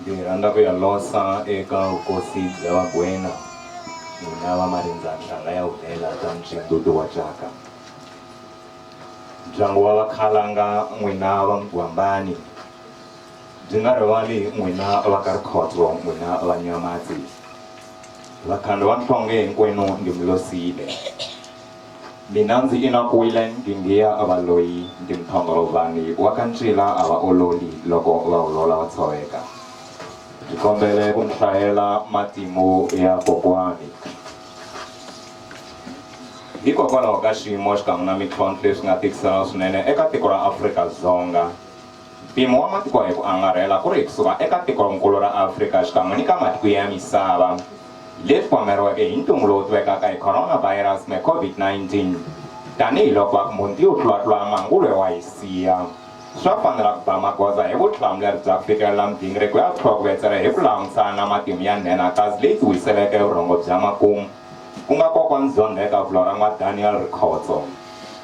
Ndzi rhandza ku ya losa eka vukosi bya Vagwena, n'wina va marindza nhlanga ya hulela ta Mtshindudu wa Jaka, ndyangu wa Vakhalanga, n'wina va Mgwambani, ndzi nga rivali n'wina va ka Rikhotso, n'wina va Nyamatsi, Vakhandwa Nhlonge hinkwenu ndzi mi losile. Mina ndzi inakwile nginghiya va loyi ndi mthongolovani wa ka ncila a va ololi loko va olola va tshoveka ndzi kombele ku mi hlayela matimu ya kokwani hikokwalaho ka xiyimo xikan'we na mintlhontlho leswi nga tikisela swinene eka tiko ra Afrika-Dzonga. Mpimo wa matiko hi ku angarhela ku ri kusuka eka tikonkulu ra Afrika xikan'we ni ka matiko ya misava leti pwameriweke hi ntungu lowu tivekaka hi Coronavirus me Covid-19. Tanihi loko akmbunt yu tlulatlula mangulwe wa Hisiya, swa fanela ku ba magoza hi vutihlamuleri bya ku fikelela migingiriko ya vutlhokovetseri hi ku langusana na matimu ya nhenhakazi leyi tiwiseleke vurhongo bya makumu, ku nga ko kwandzondzheka vula ra N'wa Daniel Rikhotso.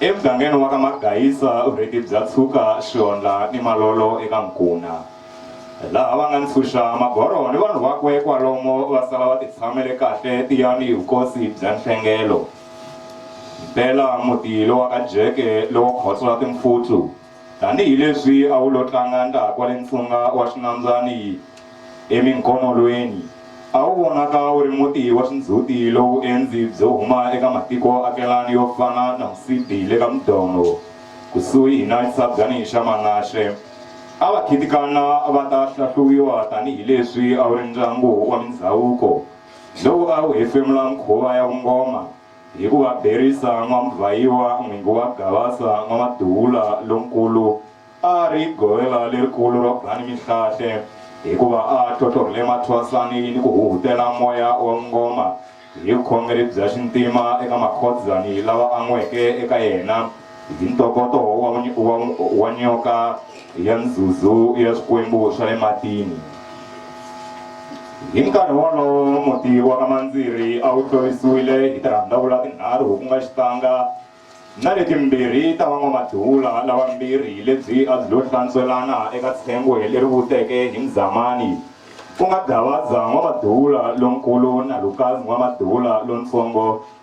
Emugangeni wa ka Magayisa, vurheti bya tshuka Xionla ni Malolo eka Nkuna. Laha va nga ni Ntshuxa, Magoro ni vanhu vakwe kwalomo va sala va titshamele kahle tiyani hi vukosi bya Nhlengelo. Mpela muti lowa ka Jeke lowo khotswa timfutlu. Tanihi leswi a wu lo tlanga laha kwale ntshunga wa xinambyani eminkonolweni, a wu vonaka wu ri muti wa xindzhuti lowu endzi byo huma eka matiko akelani yo fana na Musidi le ka Mdono, kusuhi na xitshabyani xa Manashe. A va khitikana va ta hlahluwiwa tanihi leswi a wu ri ndyangu wa mindzhavuko lowu a wu hefemula mukhuva ya vungoma. Hi ku va berisa N'wamuvhayiwa n'wingi wa Gavasa N'wamaduvula lonkulu a a ri govela lerikulu ro ba ni mihlahle hi ku va a a tlhotlhorhele mathwasani ni ku huhutela moya wa vungoma hi vukhongeri bya xintima eka makhodzani lava an'weke eka yena. hi ntokoto wa, wa, wa nyoka ya nzuzu ya swikwembu swa le matini hi nkarhi wolowo muti wa ka mandziri a wu tlurisiwile hi tirhandavula tinharhu ku nga xitanga na letimbirhi ta van'wamadula lavambirhi lebyi a byi lo hlantswelana eka tshengwe leri vuteke hi mzamani ku nga gavaza n'wamadula lonkulu na lukazi n'wamadula lontsongo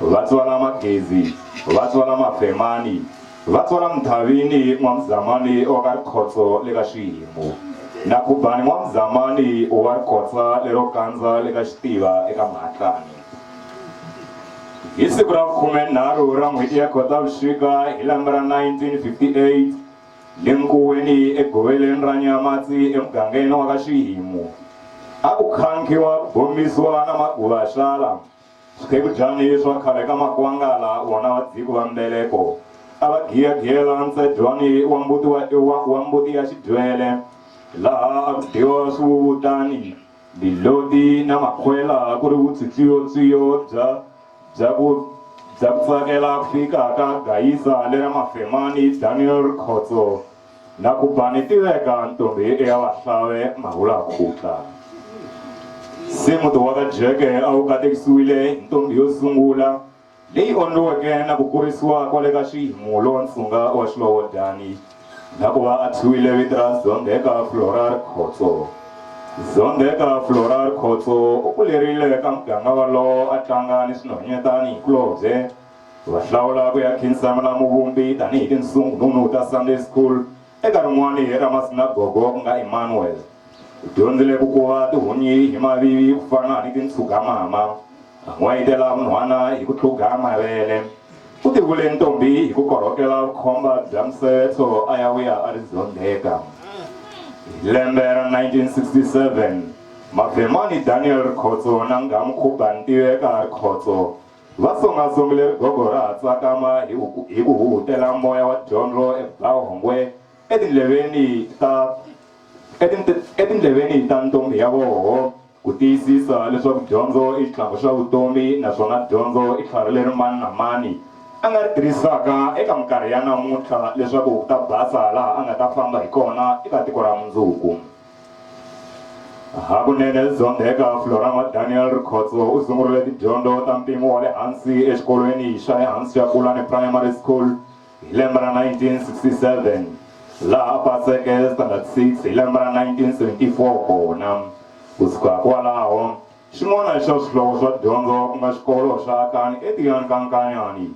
Vatswala Magezi, Vatswala Mavhemani, Vatswala Mdhavini n'wa Mzamani wa ka Rikhotso le ka Xihimu, na Khubani n'wa Mzamani wa Rikotsa lero kandza le ka Xitiva e ka Mahatlani. Hi siku ra vukhume-nharhu ra n'hweti ya Khotavuxika hi lembe ra 1958, le nkuweni egoveleni ra Nyamatsi emugangeni wa ka Xihimu, a ku khankhiwa ku bombisiwa na Maguvaxala, Swikebujani swa khale ka Makwangala vona va dziku va mbeleko a va giyagiyela ntsejwani wa mbuti wa, wa, wa mbuti ya xidywele laha a ku dyiwa swiwuwutani, miloti na makhwela ku ri vutswitswiyotswiyo bya, bya ku, bya ku tsakela ku fika ka gayisa lera Mafemani Daniel Rikhotso. Na ku ba ni tiveka ntombi i ya vahlawe mahula khutla. Se muti wa ka Jeke a wu katekisiwile hi ntombi yo sungula leyi ondliweke na ku kurisiwa kwale ka Xihimu lowa nsunga wa Xilovodani na ku va a thyiwile vito ra Zondheka Florar Khotso. Zondheka Florar Khotso u kulerile ka muganga walowo a tlanga ni swinhwanyetani hi kulobye Va hlawula ku ya khinsama na Muvumbi tanihi tinsungununu ta Sunday School eka rin'wana ra masinagogo ku nga Emmanuel. U dyondzile ku kuva tihunyi hi mavivi ku fana ni tintshugamama. A n'wayitela vunhwana hi ku tlhuga mavele. U tivule ntombhi hi ku korhokela vukhomba bya musevetso a ya vuya a ri zondheka. Hi lembe ra 1967, Mavemani Daniel Rikhotso na Nghamu Khubani Tiveka Rikhotso Va songa-songile rigogo ra ha tsakama hi ku hi ku huhutela moya wa dyondzo e Blaauhongwe etindleveni ta etindle etindleveni ta ntombhi ya voho ku tiyisisa leswaku dyondzo i xitlhangu xa vutomi naswona dyondzo i tlhari leri mani na mani a nga ri tirhisaka eka minkarhi ya namuntlha leswaku ku ta basa laha a nga ta famba hi kona eka tiko ra mundzuku. Hakunene Zonde eka Florama Daniel Rikhotso u sungurile tidyondzo ta mpimo wa le hansi exikolweni xa le hansi xa Kulani Primary School hi lembe ra 1967 laha a paseke standard 6 hi lembe ra 1974 kona. Kusuka kwalaho, xin'wana xa swihlovo swa dyondzo ku nga xikolo xa Akani eTiyani ka Nkanyani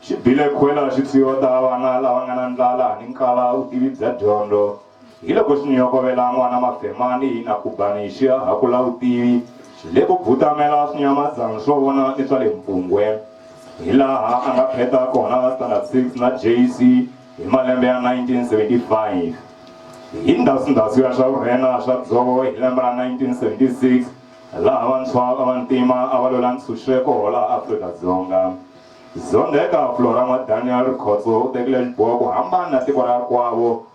xi bile khwela xi tswiyota vana lava nga na ndlala ni nkala vutivi bya dyondzo. Hiloko swi nyokovela n'wana mafema ni hina Kubani hi xiya ha kula vutivi le ku bvutamela swinyamazana swo vona ni swa le Mpungwe hi laha a nga pheta kona Standard 6 na JC hi malembe ya 1975. Hi ndhasundhasu ya swa vurhena swa dzovo hi lembe ra 1976 laha vantshwa va vantima a va lwela ntshunxeko laha Afrika-Dzonga, Zondheka Flora N'wa Daniel Rikhotso u tekile xiboho ku hambana na tiko ra kwavo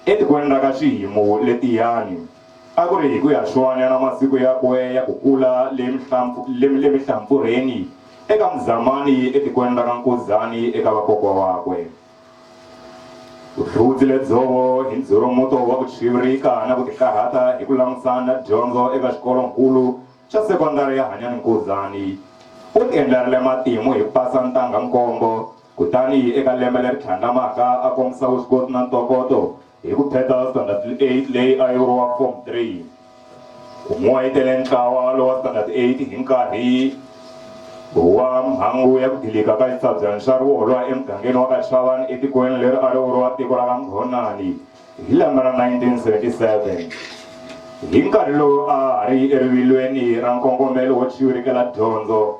Etikweni ra ka Xihimu le Tiyani, a ku ri hi ku ya xwanya na masiku yakwe ya ku kula le mihlampfurheni eka Muzamani etikweni ra ka Nkuzani eka vakokwa wakwe. Vuhludzi lebyobvo hi ndzhurumuto wa ku chivirika na ku tikarhata hi ku langutisana na dyondzo eka xikolo-nkulu xa sekondari ya Hanyani Nkuzani, u tiendlerile matimu hi ku pasa ntangha-nkombo Kutani eka lembe leri tlhandlamaka a kombisa vuswikoti na ntokoto hi ku pheta Standard 8 leyi a yi vuriwa Form 3. U n'wayitele ntlawa lowa Standard 8 hi nkarhi wa mhangu ya ku dilika ka xitsabyani xa rivolwa emugangeni wa ka Chavani etikweni leri a ri vuriwa tiko ra ka Nghonani hi lembe ra 1977. Hi nkarhi lowu a ha ri erivilweni ra nkongomelo wo chivirikela dyondzo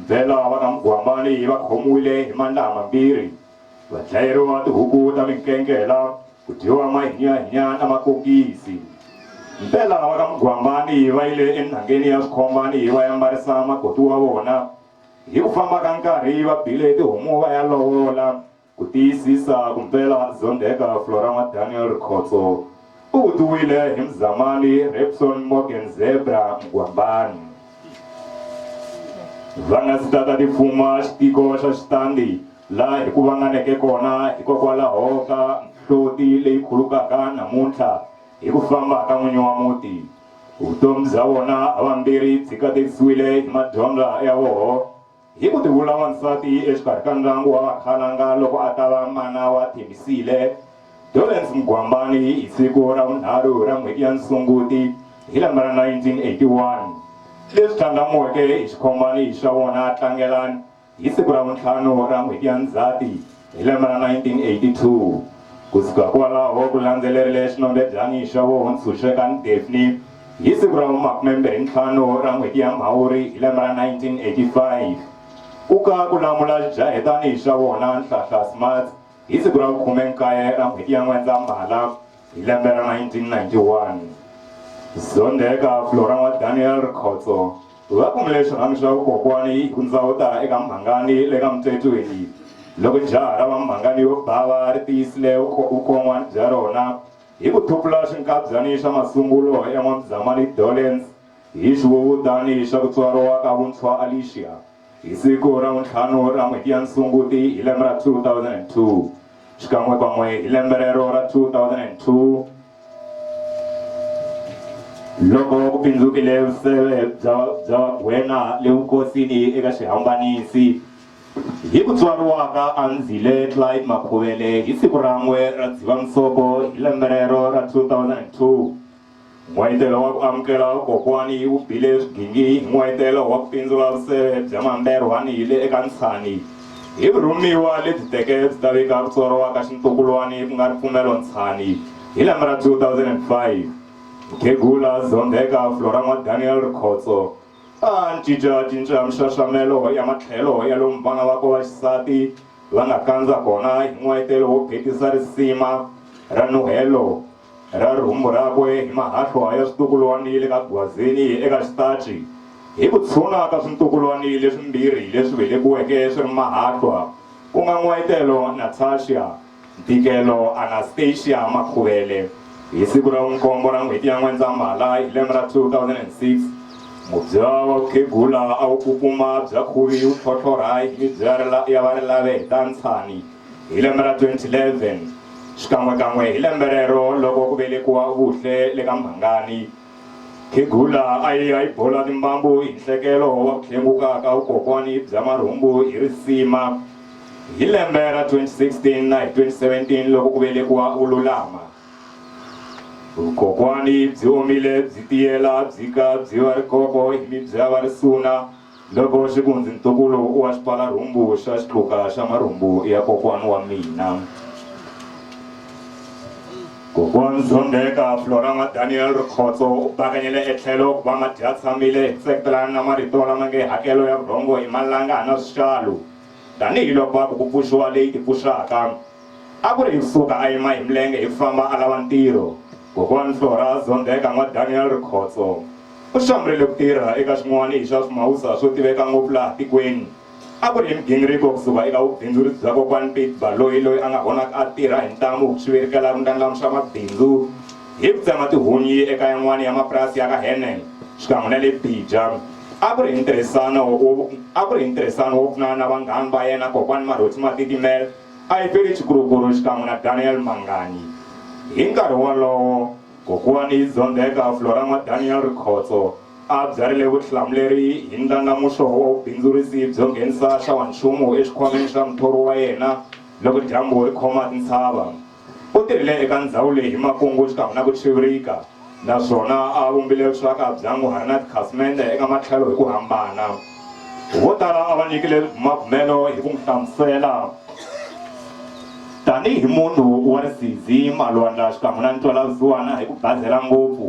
Ndlela va ka Mugwambani va khomiwile hi mandlaha mambirhi, va dlayeriwa tihuku ta minkenkela, ku dyiwa mahinyahinya na makokisi. Ndlela va ka Mugwambani va yile enhangeni ya Swikhombani va ya mbarisa makoti wa vona. Hi ku famba ka nkarhi va bile tihomu va ya lovola. Ku tiyisisa ku mpela Zondeka Florama Daniel Rikhotso u vutiwile hi Mzamani Repson Morgan Zebra Mgwambani. Va nga si tata ti fuma xitiko xa Xitandi laha hi ku vanganeke kona hikokwalaho ka nhloti leyi khulukaka namuntlha hi ku famba ka n'winyi wa muti. Vutomi bya vona havambirhi byi katekisiwile hi madyondza ya voho. Hi ku tivula wansati exikarhi ka ndyangu wa Vakhalanga loko a ta va mana wa Thembisile, Dorrance Mgwambani hi siku ra vunharhu ra n'hweti ya Sunguti hi lembe ra 1981, leswi tlhandlamuweke hi xikhomani xa wona Tlangelani hi siku ra vuntlhanu ra n'hweti ya Ndzhati Hi lembe ra 1982, ku suka kwalaho ku landzelerile xinombedlani xa vo Ntshunxeka ni Daphne hi siku ra vu makumembirhi ntlhanu ra n'hweti ya Mhawuri hi lembe ra 1985. Ku ka ku lamula xijahetani xa vona Nhlahla Smuts hi siku ra vu khume nkaye ra n'hweti ya N'wendzamhala. Hi lembe ra 1991, Zondeka Flora wa Daniel Rikhotso va kumile xirhami xa vukokwani hi ku ndzawuta eka Mhangani le ka Mtetweni. Loko jaha ra va Mhangani yo bava ri tiyisile vukon'wani bya rona hi ku thupula xinkabyani xa masungulo ya N'wamzamani Dollens hi xiwuvutani xa ku tswariwa ka vuntshwa Alicia, Hi siku ra vuntlhanu ra n'hweti ya Sunguti hi lembe ra 2002, xikan'wekan'we hi lembe rero ra 2002, loko ku pindzukile vuseve bya bya Vagwena le vukosini eka xihambanisi, hi ku tswariwa ka Andzile Clyde Makhuvele hi siku ran'we ra Dzivamisoko hi lembe rero ra 2002, N'wayitelo wa ku amukela kokwani yi wu bile swigingi hi n'wayitelo wa ku pindzula vuseve bya mamberwani hi le eka Ntshani hi vurhumiwa lebyi teke byi ta vika ku tswariwa ka xintukulwani ku nga ripfumelo Ntshani hi lembe ra 2005. Mukhegula Zondheka Floran'wa Daniel Rikhotso a a ncincacinca mixaxamelo ya matlhelo ya lomu vana vakwe va xisati va nga kandza kona hi n'wayitelo wo phetisa risima ra nuhelo ra rihumbu rakwe hi mahahlwa ya switukulwani le ka gwazini eka xitaci, hi ku tshuna ka swintukulwani leswimbirhi leswi velekiweke swi ri mahahlwa, ku nga N'wayitelo Natasha, Ntikelo Anastasia Makhuvele, hi siku ra vunkombo ra n'hweti ya N'wendzamhala hi lembe ra 2006, mubya wa vukhegula a wu kukuma bya khuvi wu tlhotlhorha hi mibya ya varilaveheta ntshani. Hi lembe ra 2011, xikan'we-kan'we hi lembe rero loko ku velekiwa Vuhle le ka Mhangani, Khegula a yi ya yi bola timbambu hi nhlekelo wa ku hlenguka ka vukokwani bya marhumbu hi risima. Hi lembe ra 2016 na hi 2017 loko ku velekiwa Vululama, vukokwani byi omile byi tiyela byi ka byi va rikoko hi mibyava risuna. Loko xikunzi ntukulu wa xipfala-rhumbu xa xitluka xa marhumbu ya kokwan wa mina, Kokwan Zondeka Florama Daniel Rikhotso u bakanyele etlhelo ku va madyatshamile hi ku tseketelana na marito lama nge hakelo ya vurhongo i malanga hana swixalu, tanihi loko va ku ku pfuxiwa leyi tipfuxaka. A ku ri hi ku pfuka a yima hi milenge hi ku famba a lava ntirho, Kokwan Flora Zondeka N'wa Daniel Rikhotso. U hlamurile ku tirha eka swin'wana hi swa swimawusa swo tiveka ngopfu laha tikweni a ku ri hi migingiriko ku suka eka vubindzuritsi bya Kokwani Pete Baloyi loyi a nga honaka a tirha hi ntamu ku xivirikela ku ndlandlamuxa mabindzu hi ku tsema tihunyi eka yan'wana ya mapurasi ya ka Hernel xikan'we na le Bija. A ku ri hi ntirhisano wo a ku ri hi ntirhisano wo pfunana na vanghani va yena Kokwani Maroti Matitimela, Ayipery Chikurukuru xikan'we na Daniel Manganyi. Hi nkarhi wolowo, Kokwani Zondzeka Florama Daniel Rikhotso a a byarile vutihlamuleri hi ndlandlamuxo wa vubindzurisi byo nghenisa xawanchumu exikhwameni xa muthori wa yena loko dyambu ri khoma tintshava. U tirhile eka ndzhawu leyi hi makungu xikan'we na ku chivirika naswona a a vumbile vuxaka bya n'wi hari na tikhasimende eka matlhelo hi ku hambana. Vo tala a va nyikile bumabumelo hi ku n'wi hlamusela tanihi munhu wa risizi, malwandla xikan'we na ntwalavusiwana hi ku bazela ngopfu,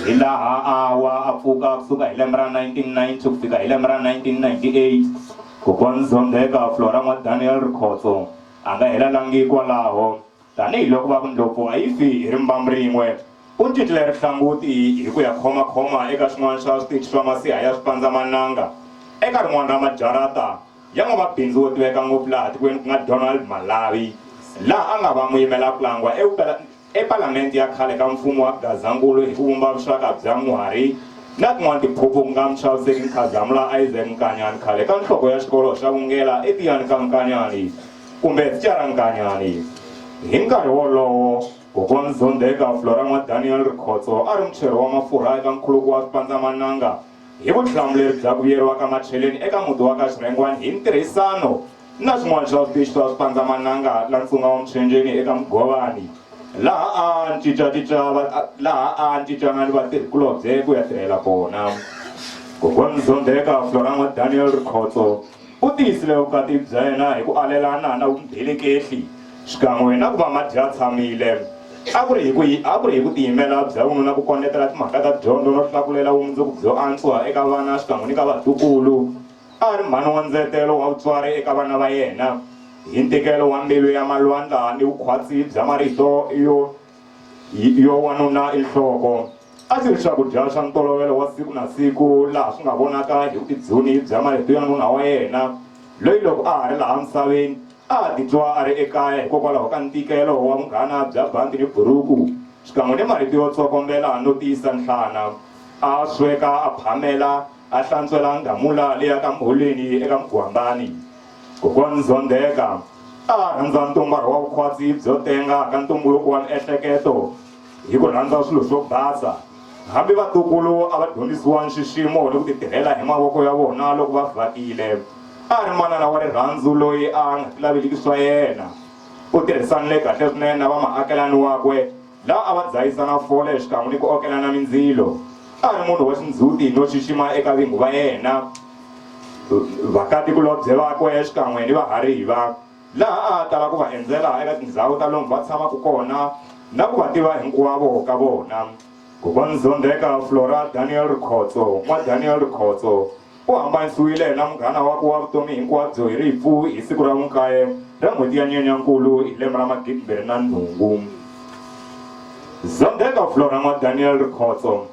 hi laha a wa a pfuka ku suka hi lembe ra 1990 ku fika hi lembe ra 1998. Kokwani Zondheka Flora N'wa-Daniel Rikhotso a nga hela langi kwalaho. Tanihi loko va ku ndlopfu a yi fi hi rimbambu rin'we, u cincile rihlanguti hi ku ya khomakhoma eka xin'wana xa switichi swa masiha ya swipandzamananga eka rin'wana ra majarata ya n'wamabindzu wo tiveka ngopfu laha tikweni ku nga Donald Malawi, laha a nga va muyimela-kulangwa ePalamenti ya khale ka mfumo wa Gazankulu hi ku vumba vuxaka bya Muhari na tin'wana tiphuphu ku nga Muchaviseki Nkhazamula Isaac Nkanyani khale ka nhloko ya xikolo xa Vungela eTiyani ka Nkanyani. kumbe Tshiaranganyani. Hi nkarhi wolowo, Kokwan Zondeka Floramwa Daniel Rikhotso a ri mucheri wa mafurha eka nkhuluko wa swipandzamananga hi vutihlamuleri bya ku vuyeriwa ka macheleni eka muti wa ka Xirhengwani hi ntirhisano na swin'wana swa switichi swa swipandzamananga la ntsunga wa Muchenjeni eka Mugovani laha a cincacinca laha a cincana ni vatirhikulobye ku ya tirhela kona. Kokwan Zondeka Floramwa Daniel Rikhotso U tiyisile vukati bya yena hi ku alelana na vumbelekehli xikan'we na ku va madyatshamile. A ku ri hi ku a ku ri hi ku tiyimela bya vununa ku kondletela timhaka ta dyondzo no hlakulela vumundzuku byo antswa eka vana xikan'we ni ka vatukulu. A a ri mhani wa ndzetelo wa vutswari eka vana va yena. Hi ntikelo wa mbilu ya malwandla ni vukhwatsi bya marito yo Yo wanuna i nhloko. A swi ri swakudya swa ntolovelo wa siku na siku laha swi nga vonaka hi vubidzuni bya marito ya nuna wa yena, loyi loko a ha ri laha misaveni a a titwa a ri ekaya hikokwalaho ka ntikelo wa vunghana bya bandhi ni buruku xikan'we ni marito yo tsokombela no tiyisa nhlana. A sweka, a phamela, a hlantswela ngamula leya ka Mholweni eka Mugwambani. Kokwani Zondeka a a rhandza ntumbara wa vukhwatsi byo tenga ka ntumbuluko wa miehleketo hi ku rhandza swilo swo basa. Hambi vatukulu a va dyondzisiwa nxiximo ni ku titirhela hi mavoko ya vona loko va vhakile. A a ri manana wa rirhandzu loyi a a nga tilaveliki swa yena. U tirhisanile kahle swinene na vamaakelani wakwe. la a va dzahisa na fole xikan'we ni ku okelana mindzilo. A a ri munhu wa xindzhuti no xixima eka vingu va yena, vakati-kulobye vakwe xikan'we ni vahariva, laha a a tala ku va endzela eka tindzhawu ta lomu va tshamaka kona na ku va tiva hinkwavo ka vona. Kokwana Zondeka Flora Daniel Rikhotso, N'wa Daniel Rikhotso, U hambanisiwile na munghana wakwe wa vutomi hinkwabyo hi rifu hi siku ra vunkaye ra n'hweti ya Nyenyankulu hi lembe ra magidimbirhi na nhungu. Zondheka Flora N'wa Daniel Rikhotso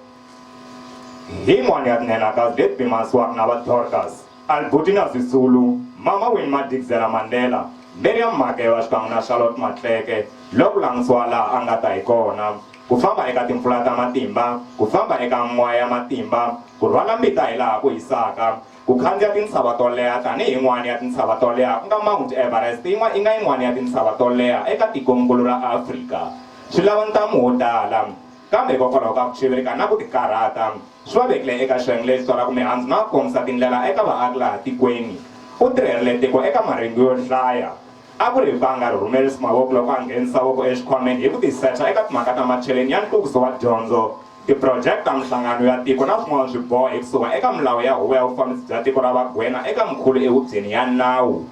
Hi n'wani ya tinhenha ka Zletby Manswak na va Dorcas, Albutina Sisulu, Mama Winnie Madikizela Mandela, Miriam Makeva xikan'we na Charlotte Matleke, lwa ku langusiwa laha a nga ta hi kona. ku famba eka timpfula ta matimba, ku famba eka moya ya matimba, ku rhwala mbita hi laha ku hisaka, ku khandziya tintshava to leha tanihi yin'wana ya tintshava to leha ku nga Mount Everest yi nga yin'wana ya tintshava to leha eka tikonkulu ra Afrika swi lava ntamu wo tala. Kambe hikokwalaho ka ku chivirika na ku tikarhata, swi va vekile eka xiyenge lexi tswalaka mihandzu na ku kombisa tindlela eka vaaki laha tikweni. U tirherile tiko eka marengu yo hlaya. A ku ri mpfanga ri rhumele Smawoko loko a nghenisa voko exikhwameni hi ku tisecha eka timhaka ta macheleni ya nhluvukiso wa dyondzo, tiprojeke ta minhlangano ya tiko na swin'wana swiboho hi kusuka eka milawu ya Huvo ya Vufambisi bya Tiko ra Vagwena eka Mkhulu ehubyeni ya nawu.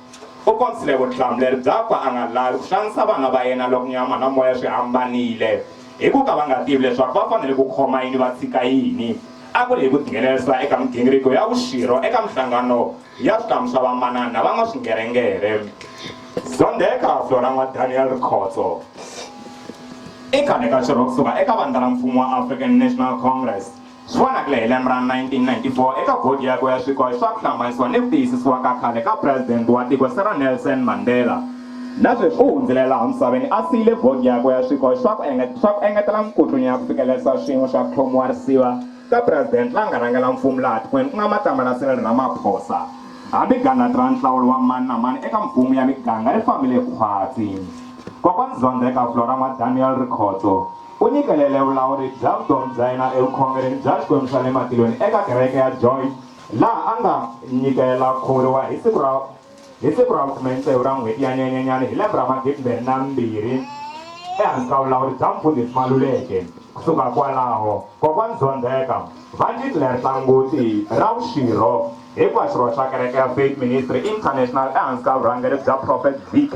U kombisile vutihlamuleri byakwe a nga lavi ku xanisa vana va yena loko nyama na moya swi hambanile hi ku ka va nga tivi leswaku va fanele ku khoma yini va tshika yini. A ku ri hi ku tinghenelerisa eka migingiriko ya vuxirho eka minhlangano ya switamisa vamanana na van'waswingerengere. Zondheka Flora N'wa-Daniel Rikhotso i khale ka xirho kusuka eka vandla ra mfumo wa African National Congress swi vonakile hi lembe ra 1994 eka bodi yakwe ya swikoxo swa ku hlambanisiwa ni ku tiyisisiwa ka khale ka president wa tiko Cyril Nelson Mandela. Na sweswi u hundzile laha misaveni a siyile bodi yakwe ya swikoxo swa ku engetela minkutlunya ya ku fikelerisa swiyimo swa ku tlhomiwa risiva. ka President la nga rhangela mfumu laha tikweni ku nga Matamana Cyril Ramaphosa. Hambi gandlati ra nhlawulo wa mani na mani eka mfumu ya miganga ri fambile khwatsi, Kokwani Zondheka Flora N'wa Daniel Rikhotso u nyikelele vulawuri bya vutomi bya yena evukhongerini bya Xikwembu xa le matilweni eka kereke ya Joy laha a nga nyikela khuvuriwa hi siku ra Hi siku ra vukhume ntsevu ra n'hweti ya Nyenyenyani hi lembe ra magidi mbirhi na mbirhi ehansi ka vulawuri bya mfundhisi Maluleke kusuka kwalaho kokwani Zondheka va ndzi tlherisa ngoti ra vuxirho hikuva xirho xa kereke ya Faith Ministry International ehansi ka vurhangeri bya Prophet VK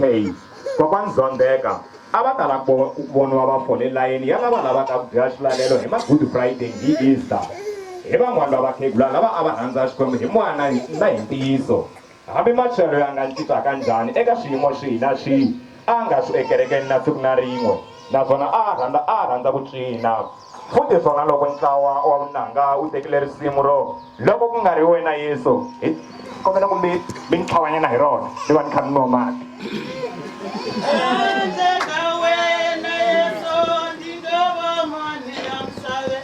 kokwani Zondheka a va tala ku voniwa va fole layeni ya lava lavaka ku dya xilalelo hi ma-good friday hi easter hi van'wana va vakhegula lava a va rhandza xikwembu hi moya na hi ntiyiso Hambi Marcelo ya nga cincaka njhani eka swiyimo swihi na swihi, a nga swi ekerekeni na siku na rin'we naswona a a rhandza a a rhandza ku cina. Futhi swona loko ntlawa wa vunanga wu tekile risimu ro Loko Ku Nga Ri Wena Yesu, hi kombela ku mi mi ni tlhawanyana hi rona ni va ni kha ni nwa mati. Handle ka wena Yesu, ndzi nga va mani la misaveni?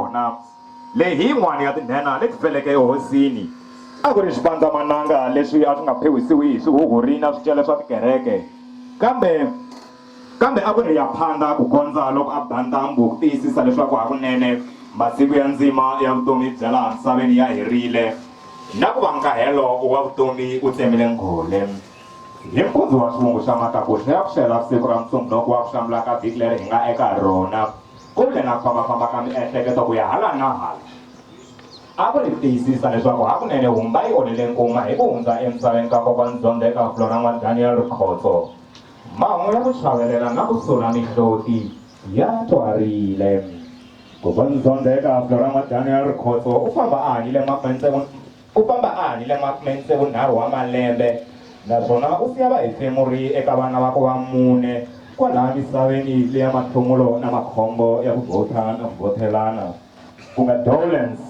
yona leyi hi yin'wana ya tinhenha leti feleke ehosini a ku ri swipandzamananga leswi a swi nga phewisiwi hi swihuhuri na swicele swa tikereke kambe kambe a ku ri ya phanda ku kondza loko a ba ntambhu ku tiyisisa leswaku hakunene masiku ya ndzima ya vutomi bya laha misaveni ya herile na ku va nkahelo wa vutomi u tsemile nghole hi mpundzu wa xivungu xa matakuxa ya ku xela siku ra musumbhunuku wa ku hlamula ka vhiki leri hi nga eka rona kumbe na ku fambafamba ka miehleketo ku ya hala na hala a ku ri tiyisisa leswaku hakunene humba yi onhele nkuma hi ku hundza emisaveni ka kokwana dyondzo eka fulo ra n'wa daniel rikhotso mahungu ya ku chavelela na ku sula mihloti ya twarile kokwana dyondzo eka fulo ra n'wa daniel rikhotso u famba a hanyile makwentse Ku famba a hanyile makume-ni-tsevu-nharhu wa malembe, naswona u siya vahefemuri eka vana vakwe va mune kwalaha misaveni leya matlhumulo na makhombo ya ku vhotha na ku vhothelana, ku nga Dowlands,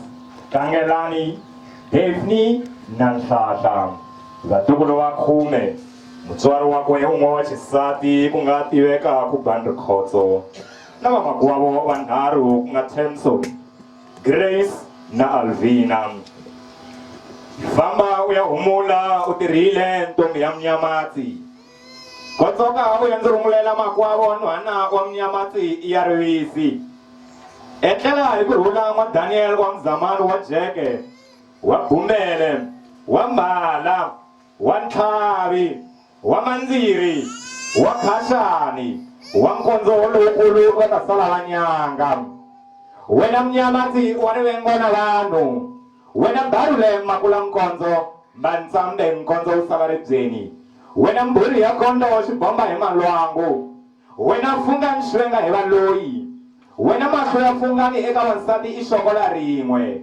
Tlangelani, Daphne na Nhlahla. Vatukulu va khume, mutswari wakwe un'we wa xisati ku nga Tiveka Khubandri Khotso na vamakwavo vanharhu ku nga Themson, Grace na Alvina. Famba u ya humula u tirhile ntombi ya Munyamatsi. Kotsoka u ya ndzi rhumulela makwavo nhwana wa Munyamatsi ya Rivisi. Etlela hi ku rhula n'wa Daniel wa Mzamani wa Jeke, wa Bumele, wa Mbala, wa ntlhavi, wa mandziri, wa khaxani, wa nkondzo lowukulu va ta sala va nyanga. Wena mnyama ndzi wa rivengo na vanhu, wena mbarule makula nkondzo, mbantsambe nkondzo wu sala ribyeni, wena mbhuri ya kondo xibomba hi malwangu, wena funga ni xvenga hi valoyi, wena mahlo ya fungani eka wansati i xokola rin'we.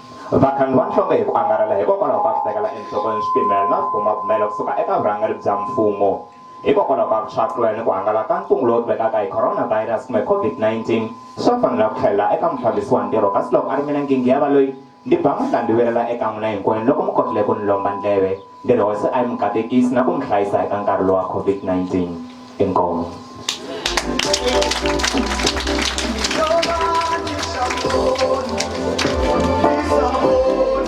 Vagangu va nhlonge hi ku angarhela hikokwalaho ka ku tekela enhlokweni swipimelo na swibumabumelo ku suka eka vurhangeri bya mfumo hikokwalaho ka ku tshwakula ni ku hangalaka ka ntungu lowu tivekaka hi coronavirus kumbe COVID-19, swa fanela ku tlhelela eka mufambisi wa ntirho kasi loko a ri mina Ngingiya Baloyi, ndi ba mandla ndi vilela eka n'wina hinkwenu loko mi kotile ku ni lomba ndleve. Ngeno hosi a yi mi katekisi na ku mi hlayisa eka nkarhi lowa COVID-19. Inkomu.